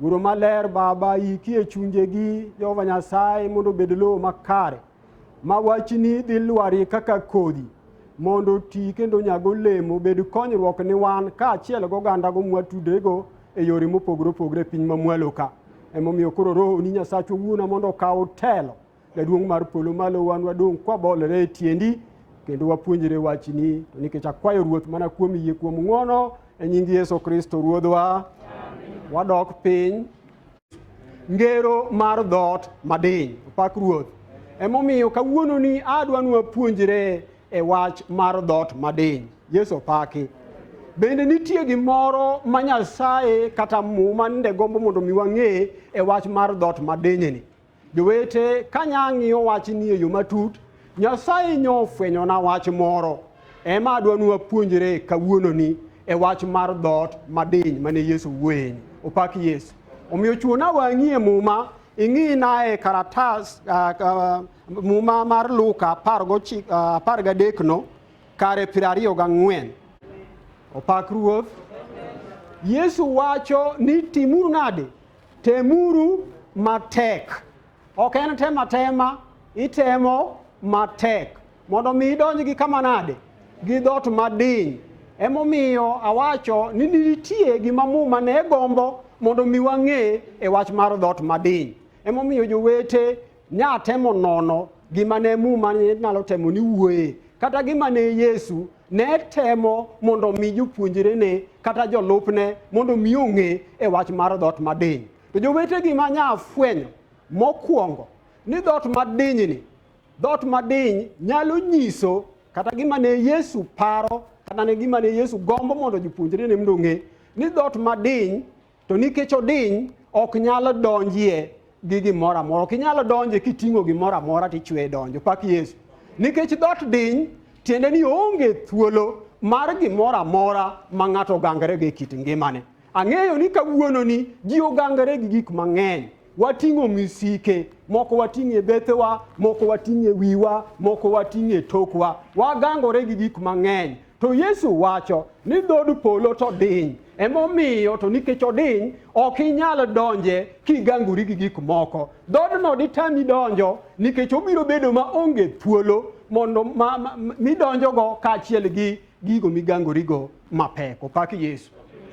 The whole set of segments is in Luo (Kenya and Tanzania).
Guro maler Baba, yiki e chunjegi, Jehova Nyasaye, mondo obed lowo makare, ma wachni dhi lwari kaka kodhi, mondo oti kendo nyag olemo, bed konyruok ni wan, kaachiel gogandago mwatudego e yore mopogore opogore e piny mamwalo ka. Emomiyo koro Rohoni Nyasachwa wuona mondo okaw telo Jaduong' mar polo malo, wan wadong' kwabolore e tiendi kendo wapuonjre wachni, to nikech akwayo Ruoth mana kuom yie kuom ng'wono e nying Yesu Kristo Ruodhwa, wadok piny ngero mar dhoot madiny. Opak Ruoth. Emomiyo kawuononi adwa ni wapuonjre e wach mar dhoot madiny. Yesu opaki. Bende nitie gimoro ma Nyasaye kata Muma nende gombo mondo mi wang'e e wach mar dhoot madinyni. Jowete, ka nya ng'iyo wach ni e yo matut, Nyasaye nyo ofwenyona wach moro. Ema adwa ni wapuonjre kawuononi e wach mar dhoot madiny mane Yesu wuoyeni. Opak Yesu. Omiyo chuona wang'i e muma, ing'ina e karatas ah, ah, muma mar Luka apar gochi- ah, apar gadekno kare piero ariyo gang'wen. Opak Ruoth. Yesu wacho ni timuru nade? Temuru matek. Ok en tem atema, itemo matek mondo mi idonj gi kama nade? Gi dhoot madiny. Emomiyo awacho ni nitie gima muma ne gombo mondo mi wang'e e wach mar dhoot madiny. Emomiyo jowete Nya temo nono gima ne muma nyalo temo ni wuoye kata gima ne Yesu ne temo mondo omi jopuonjrene kata jolupne mondo omi ong'e e wach mar dhoot madiny. To jowete gima nya fwenyo mokwongo ni dhoot madinyni, dhoot madiny nyalo nyiso kata gima ne Yesu paro kata ne gima ne Yesu gombo mondo jopuonjrene mondo ong'e ni dhoot madiny To nikech odiny ok nyalo donjie gi gimoro amora. Ok inyalo donje kiting'o gimoro amora tichwe donjo. Pak Yesu. Nikech dot diny tiende ni onge thuolo mar gimoro amora ma ng'ato ogangore gi kit ngimane. Ang'eyo ni kawuononi ji ogangore gi gik mang'eny. Wating'o misike, moko wating'o e bethewa, moko wating'o e wiwa, moko wating'o e tokwa. Wagangore gi gik mang'eny. To Yesu wacho ni dhood polo to diny. Emomiyo to nikech odiny, ok inyal donje kigangori gi gik moko. Dhoodno ditami donjo nikech obiro bedo ma onge thuolo mondo ma- ma- ma- midonjogo kaachiel gi gigo migangorigo mapek. Opak Yesu.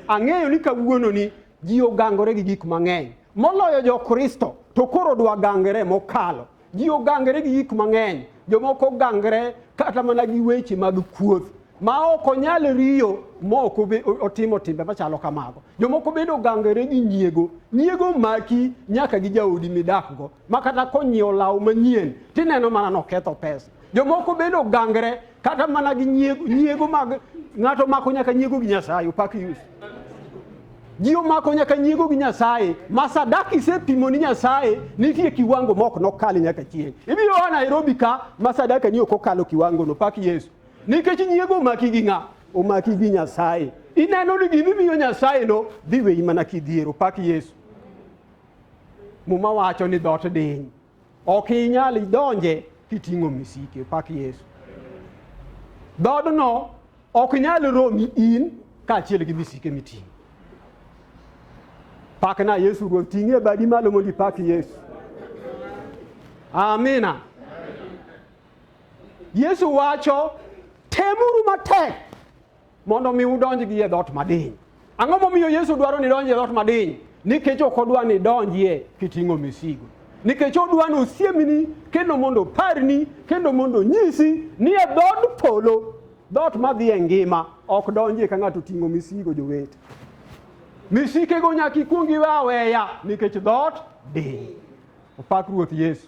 Ang'eyo ni kawuononi Ji ogangore gi gik mang'eny, moloyo Jokristo to koro dwagangre mokalo. Ji ogangre gi gik mang'eny, jomoko gangre kata mana gi weche mag kuoth ma ok onyal riyo ma ok otimo timbe machalo kamago. Jomoko bende ogangore gi nyiego. Nyiego maki nyaka gi jaodi midakgo ma kata konyiewo law manyien tineno mana noketho pesa. Jomoko bende ogangre kata mana gi nyiego, nyiego mag ng'ato mako nyaka nyiego gi Nyasaye upak yus ji omako nyaka nyiego gi Nyasaye ma sadaka isepimo ni Nyasaye nitie kiwango mok nokal nyaka chieng' ibiro a Nairobi ka ma sadaka ni ok okalo kiwango no pak Yesu nikech nyiego omaki gi ng'a omaki gi Nyasaye ineno ni gini miyo Nyasaye no dhi weyi mana kidhiero pak Yesu muma wacho ni dhoot diny Ok inyal idonje kiting'o misike. Pak Yesu. Dhoodno ok nyal romi in kaachiel gi misike miting'o. Pakna Yesu Ruoth, ting'e badi malo mondo ipak Yesu. Amina. Yesu wacho, temuru matek Mondo mi udonj gi e dhoot madiny. Ang'o momiyo Yesu dwaro ni donj e dhoot madiny? Nikech ok odwa ni donjie kiting'o misigo. Nikech odwa ni osiemni kendo mondo oparni kendo mondo onyisi ni e dhood polo dhoot madhi e ngima ok donjie ka ng'ato oting'o misigo jowete. Misikego nyaka ikwong iwe aweya nikech dhoot diny. Opak Ruoth Yesu.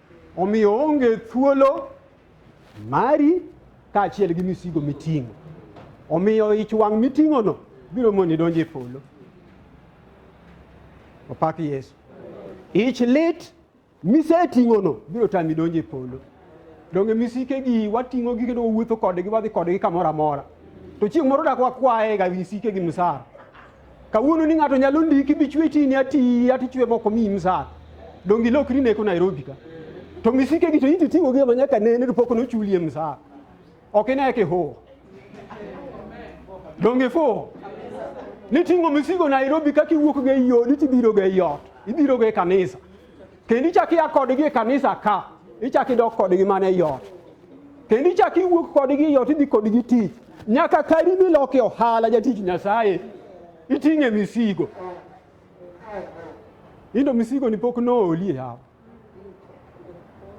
Omiyo onge thuolo mari kaachiel gi misigo miting'o. Omiyo ich wang' miting'ono biro moni donjo e polo. Opak Yesu. Ich lit miseting'ono biro tami donjo e polo. Donge misikegi wating'ogi kendo wawuotho kodgi wadhi kodgi kamoro amora. To chieng' moro dak wakwayega misikegi msara. Kawuono ni ng'ato nyalo ndiki bichwe chini ati ati chwe moko mi msar. Dongi lokri neko Nairobi ka. To misike gi to iti tiwo gi manyaka nene to pok nochulie msar. Ok ine ke ho. Dongi fo. Ni tingo misigo Nairobi kaki wuok ga yodi tibiro ga yot. Ibiro ga kanisa. kendo ichak ia kodgi e kanisa ka ichak idok kodgi mana e ot kendo ichak iwuok kodgi e ot idhi kodgi tich nyaka kari milok e ohala jatich nyasaye iting'e misigo indo misigo ni pok nooli e yawa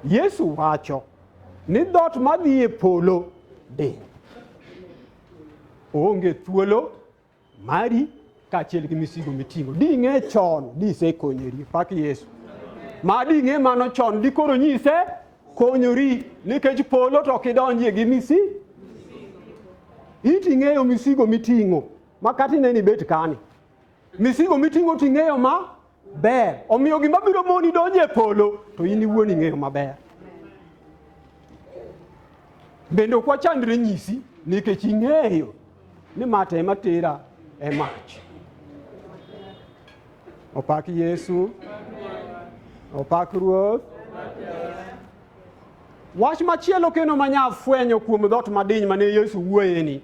yesu wacho ni dhoot madhi e polo diny oonge thuolo mari kaachiel gi misigo miting'o. Ding'e chon disekonyori pak Yesu. Ma ding'e mano chon dikoro nyise konyori nikech polo to kidonjie gi misi iti ng'eyo misigo miting'o makati ne ni bet kani misigo miting'o ting'eyo ma ber. Omiyo gima biro moni donjo e polo to in iwuon ing'eyo maber. Bende ok wachandre nyisi nikech ing'eyo ni mata ema tera e mach. Opak Yesu, opak Ruoth. Wach machielo kendo manya fwenyo kuom dhoot madiny mane Yesu wuoyeni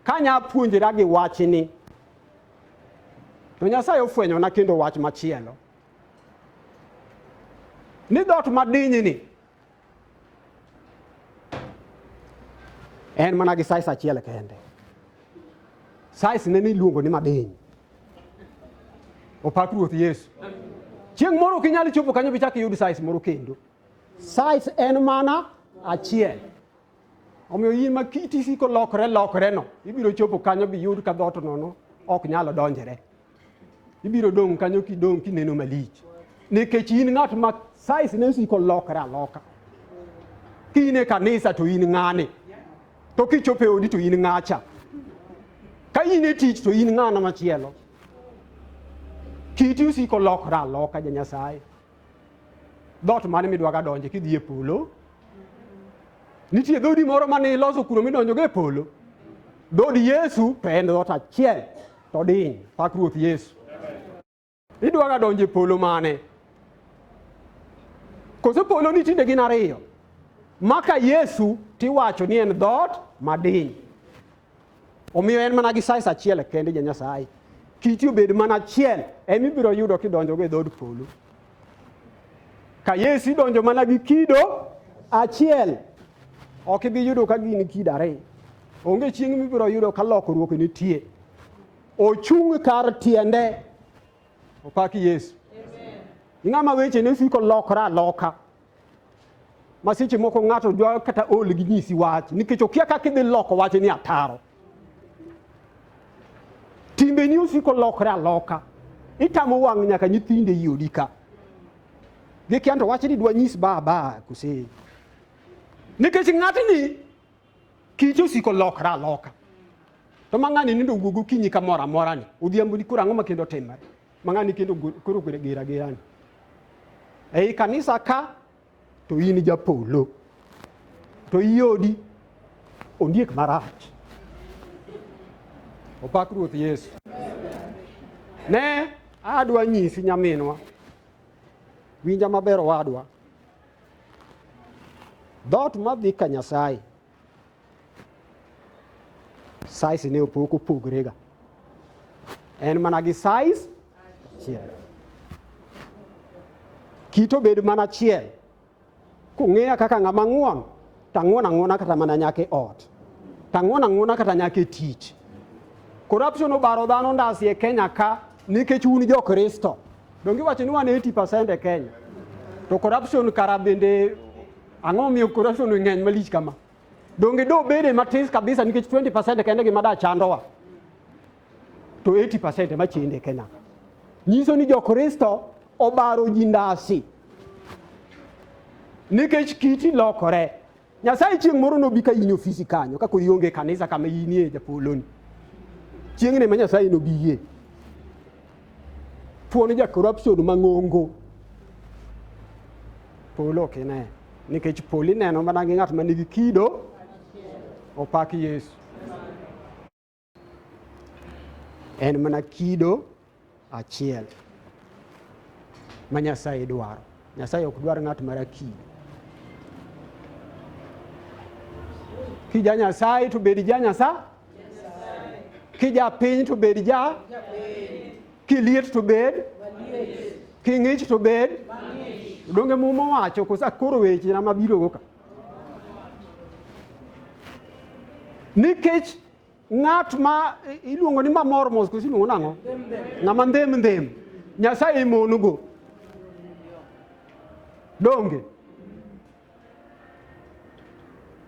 Ka nya puonjra gi wachni, to Nyasaye ofwenyona kendo wach machielo ni dot madinyini en mana gi size achiel kende. Size ne niluongo ni madiny. Opak Ruoth Yesu. Chieng' moro ok inyal chopo kanyo bichak iyud size moro kendo. Size en mana achiel. Omiyo yie ma kiti siko lokore lokoreno, ibiro chopo kanyo biyud ka dhoot nono ok nyalo donjre. Ibiro dong' kanyo kidong' kineno malich. Nikech in ng'at ma size ne osiko lokore aloka. Ka in e kanisa to in ng'ane. To kichopo e odi to in ng'acha. Ka in e tich to in ng'ano machielo. Kiti osiko lokore aloka ja Nyasaye. Dhoot mane midwaga donje kidhi e polo? Nitie dhoodi moro mane iloso kuno midonjogo e polo? Dhood Yesu to en dhoot achiel to diny, pak Ruoth Yesu. Idwaga donjo e polo mane? Koso polo ni tinde gin ariyo? Maka Yesu tiwacho ni en dhoot madiny. Omiyo en mana gi size achiel kende ja Nyasaye. Kiti obed mana achiel ema ibiro yudo kidonjogo e dhood polo. Ka Yesu idonjo mana gi kido achiel, ok ibi yudo ka gin kido ariyo. Onge chieng' mibiro yudo ka lokruok nitie. Ochung' kar tiende. Opaki Yesu. Ing'ama weche ne siko lokra aloka. ma seche moko ng'ato dwa kata ol gi nyisi wach nikech okia kaka idhi loko wach ni ataro timbeni osiko lokre aloka itamo wang' nyaka nyithinde i odi ka gikia to wach ni dwa nyis baba kose nikech ng'atni kite osiko lokre aloka to ma ng'ani nindo wuogo kinyi kamoro amora ni odhiambo ni koro ang'o ma kendo timore ma ng'ani kendo koro ogwere gera gerani ei kanisa ka to in japolo to iodi ondiek marach opak ruoth yesu ne adwa nyisi nyaminwa winja maber owadwa dhoot madhi ka nyasaye size ne opok opogrega en mana gi size chiel kit obed mana chiel kung'eya kaka ng'ama ng'won tang'won ang'wona kata mana nyaka e ot tang'won ang'wona kata nyaka e tich corruption obaro dhano ndasi e kenya ka nikech un jo kristo donge iwacho ni wan 80 percent e kenya to corruption kara bende Ang'o momiyo corruption ng'eny malich kama? Donge do bede matis kabisa nikech 20% kende gima da chandowa. To 80% ema chende Kenya. Nyiso ni Jokristo obaro ji ndasi. Nikech kiti lokore. Nyasaye chieng' moro nobi ka in ofisi kanyo ka kori onge kanisa kama inie japoloni. Chieng'ne ma Nyasaye nobi yie. Thuon ja corruption mang'ongo. Polo ok ine. Nikech polo ineno mana gi ng'at ma nigi kido opak Yesu. En mana kido achiel ma Nyasaye dwaro. Nyasaye ok dwar ng'at mara kido. Kija Nyasaye to bed ja Nyasaye. Kijapiny to bed ja, kiliet to bed, king'ich to bed. Donge muma wacho koso akoro weche na mabiro go ka. Nikech ng'at ma i- iluongo ni mamor mos koso iluongo nang'o? Ng'ama ndhem ndhem. Nyasaye imonugo. Donge?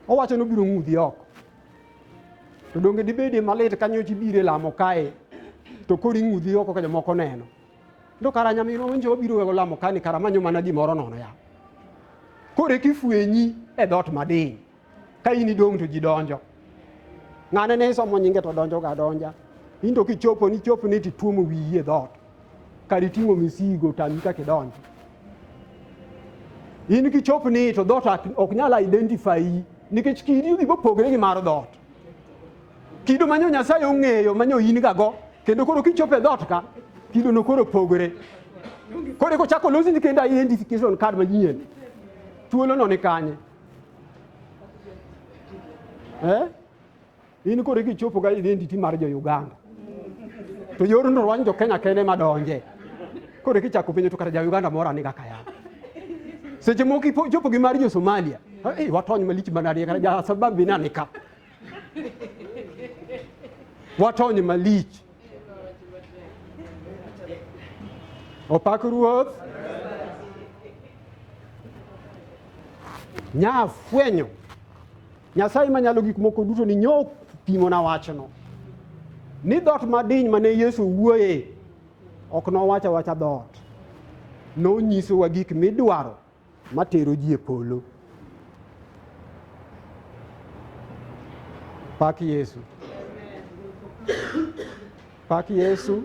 Owacho ni obiro ng'udhi oko. To donge dibedie malit ka nyocha ibiro e lamo kae to koro ing'udhi oko ka jomoko neno. To kara nyaminwa winjo wabiro wego lamo kae ni kara manyo mana gimoro nono ya. Koro eka ifwenyi e dhoot madiny ka in idong' to ji donjo. Ng'ane ne isomo nyinge to donjoga adonja. In to kichopo ni chopni to ituomo wiyi e dhoot. kar iting'o misigo tami kaka idonjo. In kichop ni to dhoot ok nyal identify nikech kidi gigo pogre gi mar dhoot. Kido manyo Nyasaye ong'eyo manyo in gago kendo koro kichopo e dhoot ka kido no koro pogre. Koro eko chako losi kendo identification card manyien. Thuolo no ni kanye? Eh? in koro ikichopo ga identity mar jo Uganda to yorno rwany jo Kenya kende madonje koro ikichako penjo to kata ja Uganda moro aniga kaya seche moko ichopo gi mar jo Somalia hey, watony malich manadi kata ja sababu inanika watony malich opak ruoth nyafwenyo Nyasaye manyalo gik moko duto ni nyo pimona wachno ni dhoot madiny mane Yesu wuoye ok nowacha wacha dhoot nonyisowa gik midwaro matero ji e polo pak Yesu Pak Yesu.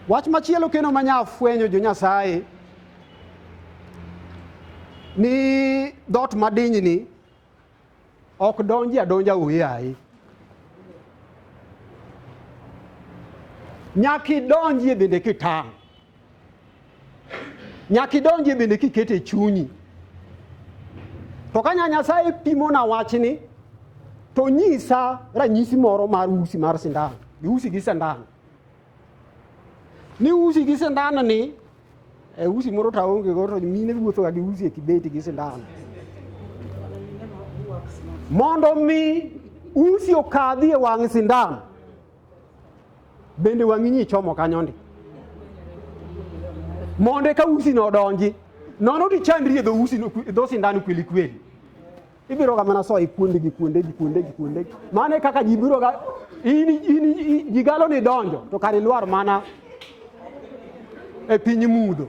Wach machielo kendo ma nya fwenyo jo Nyasaye ni dhoot madinyni ok donji adonja uyayi. Nyaka idonjie bende kitang'. Nyaka idonjie bende kikete e chunyi. To ka Nyasaye pimona wachni, to nyisa ranyisi moro mar usi mar sindan. Giusi gi sindan. Ni usi gi sindan ni, e usi moro to aonge go to mine wuothoga gi usi e kibeti gi sindan. Mondo mi usi okadhi e wang' sindan, Bende wang'i nyi chomo kanyo ndi. Mondo eka usi no donji. Nono ti chandri e dho usi no dho sindan kweli kweli. Ibiro ga mana so e kuonde gi kuonde gi kuonde gi kuonde. Mane kaka ji biro ga ini ini ji galo ni donjo to kare lwar mana e piny mudho.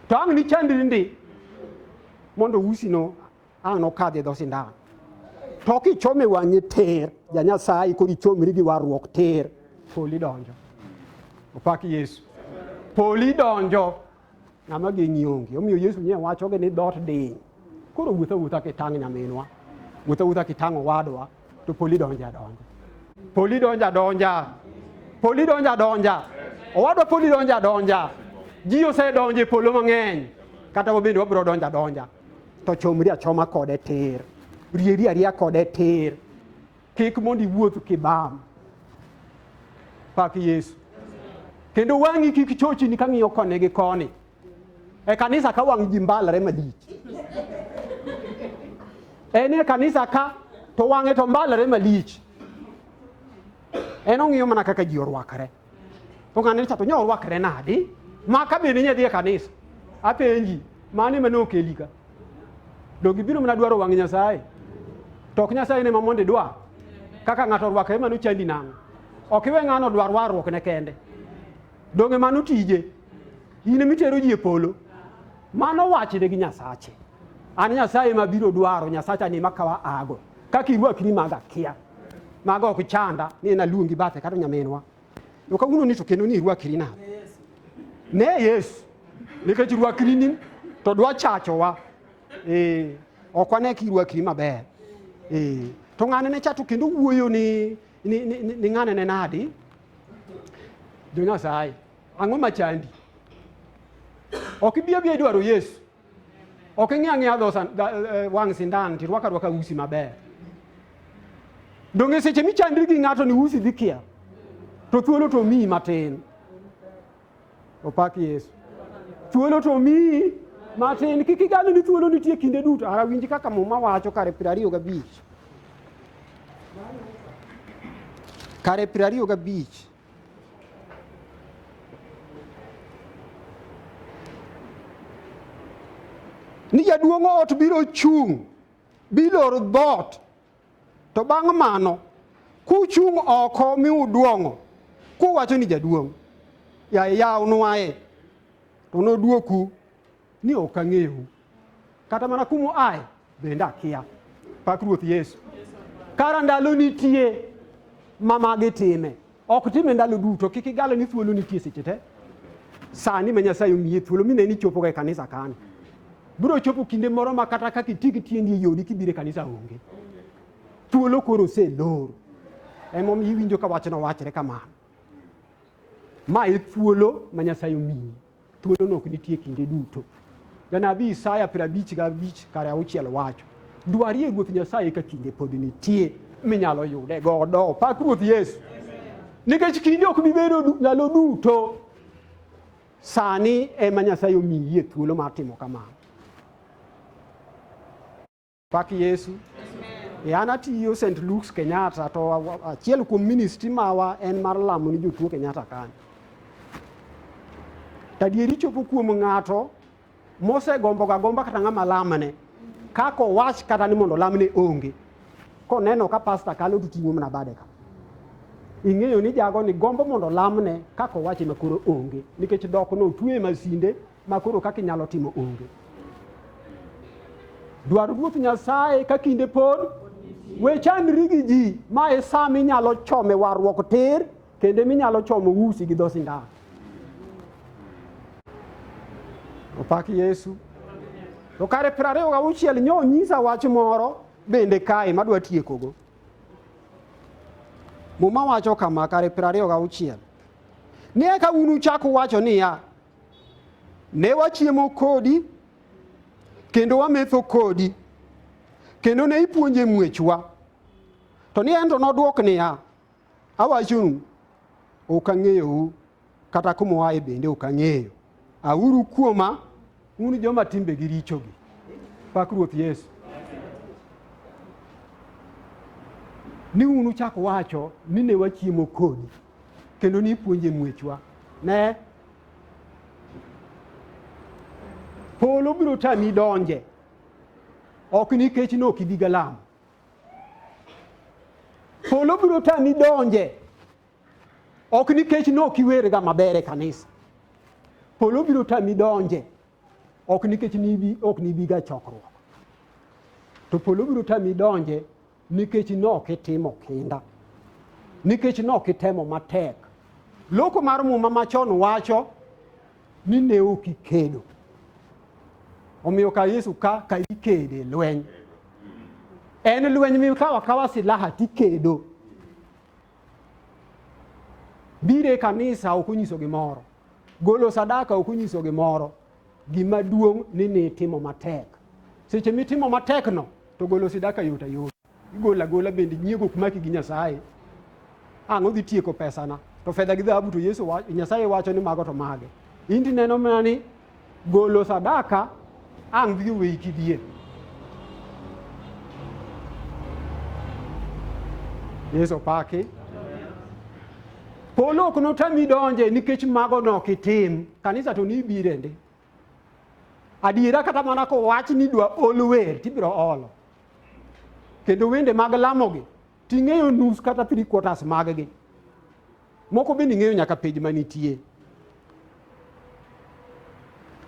To ang' ni chandri ndi mondo usi no Ang' nokadhi e dho sindan. To kichome wang'e ter, ja Nyasaye kod ichomri gi warruok ter. Poli donjo. Opak Yesu. Poli donjo. Ng'ama geng'i onge. Omiyo Yesu nye wachoge ni dhoot diny. Koro wuotha wuotha kitang' nyaminwa. Wuotha wuotha kitang' owadwa. to poli donjo adonja. Poli donjo adonja. Poli donjo adonja. Owadwa poli donjo adonja. Ji osedonjo e polo mang'eny. Kata wabende wabiro donjo adonja. To chomri achoma kode tir. Rieri ariya kode tir. Kik mondo iwuoth kibam. Pak Yesu. Kendo wang'i kik chochini kang'iyo koni gi koni. E kanisa ka wang' ji mbalre malich. En e kanisa ka to wang'e to mbalre malich. En ong'iyo mana kaka ji orwakre. To ng'ane cha to nyo orwakre nadi? Ma ka bende nyadhi e kanisa. Apenji, mane mane okeli ka? Donge ibiro mana dwaro wang' Nyasaye? To ok Nyasaye ne ma mondo idwar. Kaka ng'ato orwakre mano chandi nang'o? Ok iwe ng'ano dwar warruokne kende. Donge mano tije? In ema itero ji e polo. Mano wachne gi Nyasache. An Nyasaye ma biro dwaro, Nyasacha ni makawa ago. Kaka irwakri maga kia. Mago ok chanda ni en aluongi bathe kata nyaminwa. To kawuono ni to kendo ni irwakri nade? Ne Yesu. Nikech irwakri ni to dwa chachowa. Eh, ok wane ka irwakri maber. Eh, to ng'ane ne chato kendo wuoyo ni ni, ni, ni, ni ng'ane ne nadi? jo nyasaye ang'o machandi ok ibi abia idwaro yesu ok ing'e ang'eya dho eh, wang' sindan ti rwaka rwaka usi maber donge seche michandri gi ng'ato ni usi dhi kia to thuolo to miyi matin Opak Yesu. Thuolo to omiyi matin, kik igano ni thuolo nitie kinde duto. Ara winji kaka muma wacho kare piero ariyo gabich. Kare piero ariyo gabich. ni jaduong' ot biro chung' biloro dhoot To bang' mano, kuchung' oko mi uduong'o, kuwacho ni jaduong', ya yaw nwaye, to nodwoku ni ok ang'eyu. Kata mana kumu aye bende akia. Pak Ruoth Yesu. Kara ndalo nitie ma magi time. Ok time ndalo duto, kik igalo ni thuolo nitie seche te. Sani ma Nyasaye omiye thuolo mine ni chopo ga e kanisa kan. Biro chopo kinde moro ma kata kaka iti gi tiendi e yodi kibiro e kanisa onge. Thuolo koro oselor. Emomiyo iwinjo ka wachno wachre kamano. Ma e thuolo ma Nyasaye omiyi. Thuolono ok nitie kinde duto. Janabi Isaya piero abich gabich kare auchiel wacho, dwarie Ruoth Nyasaye ka kinde pod nitie minyalo yude godo. Pak Ruoth Yesu. Nikech kinde ok bi bedo ndalo duto, sani ema Nyasaye omiyie thuolo mar timo kamano. Pak Yesu. E an atiyo St. Luke's Kenyatta to achiel kuom ministry mawa en mar lamo ni jotuo Kenyatta kanyo. Tadieri chopo kuom ng'ato mosegombo ga gomba kata ng'ama lamne kako wach kata ni mondo lamne onge koneno ka pasta kalo to ting'o mana bade ka ing'eyo ni jago ni gombo mondo lamne kako wache makoro onge nikech dok no otwe masinde ma koro kaka inyalo timo onge. Dwar Ruoth Nyasaye ka kinde pod we chandri gi ji ma e sa minyalo chome warruok tir kendo minyalo chomo usi gi dho sindan. Opak Yesu. To kare piero ariyo gauchiel nyo nyisa wach moro bende kae madwa tiekogo. Muma wacho kama kare piero ariyo gauchiel. Ni eka unuchak uwacho niya, Ne wachiemo kodi kendo wametho kodi kendo ne ipuonje muechwa. To ni en to nodwok niya, awachonu, ok ang'eyou kata kuma uaye bende ok ang'eyo. Auru kuoma un joma timbegi richogi. Pak Ruoth Yesu. Ni un uchak wacho ni ne wachiemo kodi kendo ni ipuonje muechwa. Ne polo biro tami donje ok nikech ne ok ibi galam polo biro tami donje ok nikech ne ok iwerga maber e kanisa polo biro tami donje ok nikech nibi ok nibiga chokruok to polo biro tami donje nikech nok itimo kinda nikech nok itemo matek loko mar muma machon wacho ni ne ok ikedo omiyo ka yesu ka ka ikede lweny en lweny mikawa kawa silaha tikedo bire kanisa ok onyiso gimoro golo sadaka ok onyiso gimoro Gima duong' ni ni itimo matek. Seche mitimo matekno to golo sidaka yot ayot. Igolo agola bende nyiego ok maki gi Nyasaye. Ang' odhi tieko pesana. To fedha gi dhahabu to Yesu wacho, Nyasaye wacho ni mago to mage. In tineno mana ni golo sadaka ang' dhi oweyi kidie. Yesu opaki. Polo ok notami donje nikech mago no ok itim. Kanisa to ni birende. Adiera kata mana ko wach ni dwa ol wer tibiro olo. Kendo wende mag lamogi ting'eyo nus kata three quarters maggi. Moko bende ing'eyo nyaka page manitie.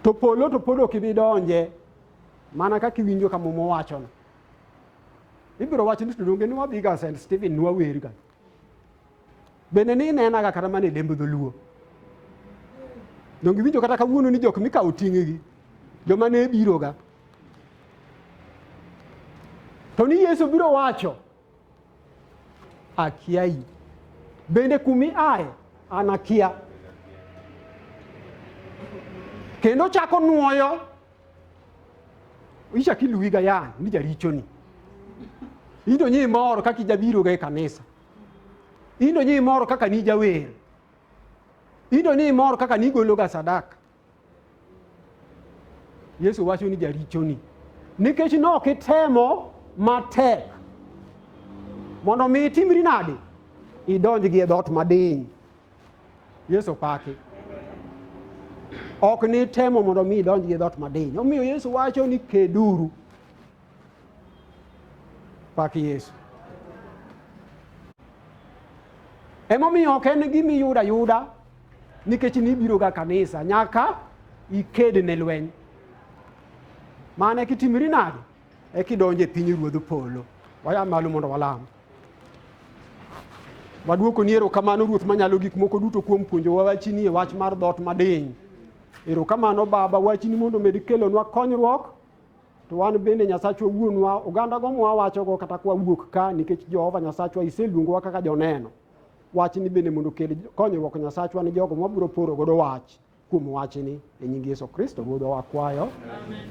To polo to pod ok ibi donje mana kaka iwinjo kama mowachono. Ibiro wacho ni to donge ni wabiga St. Stephen nwawerga. Bende ni inenaga kata mana e lemb dholuo. Donge iwinjo kata kawuono ni jok mikawo ting'gi joma ne biroga. To ni Yesu biro wacho akiayi. Bende kumi aye an akia. Kendo chako nuoyo ichak iluwiga yan ni jarichoni. Idonyi imor kaka ijabiroga e kanisa. Indo ni imor kaka ni jawer. Indo ni imor kaka ni igologa sadaka. Yesu wacho ni jarichoni nikech nok itemo matek mondo mi itimri nade idonj gi e dhoot madiny yesu paki ok ni temo mondo mi idonj gi e dhoot madiny omiyo yesu wacho ni keduru Pak Yesu. Emomiyo ok en gima iyudo ayuda nikech nibiroga kanisa nyaka iked ne lweny. Mane kitimri nade? E kidonje piny ruodh polo. Waya malo mondo walam. Waduoko ni erokamano Ruoth manyalo gik moko duto kuom puonjowa wachini e wach mar dhoot madiny. Erokamano Baba wachini mondo omed kelonwa konyruok to wan bende Nyasachwa wuonwa, ogandago mwawachogo kata kwa wuok ka, nikech Jehova Nyasachwa iseluongowa kaka joneno. Wachni bende mondo okel konyruok Nyasachwa ni jogo mabiro poro godo wach kuom wachni e nying Yesu Kristo Ruodhwa wakwayo. Amen.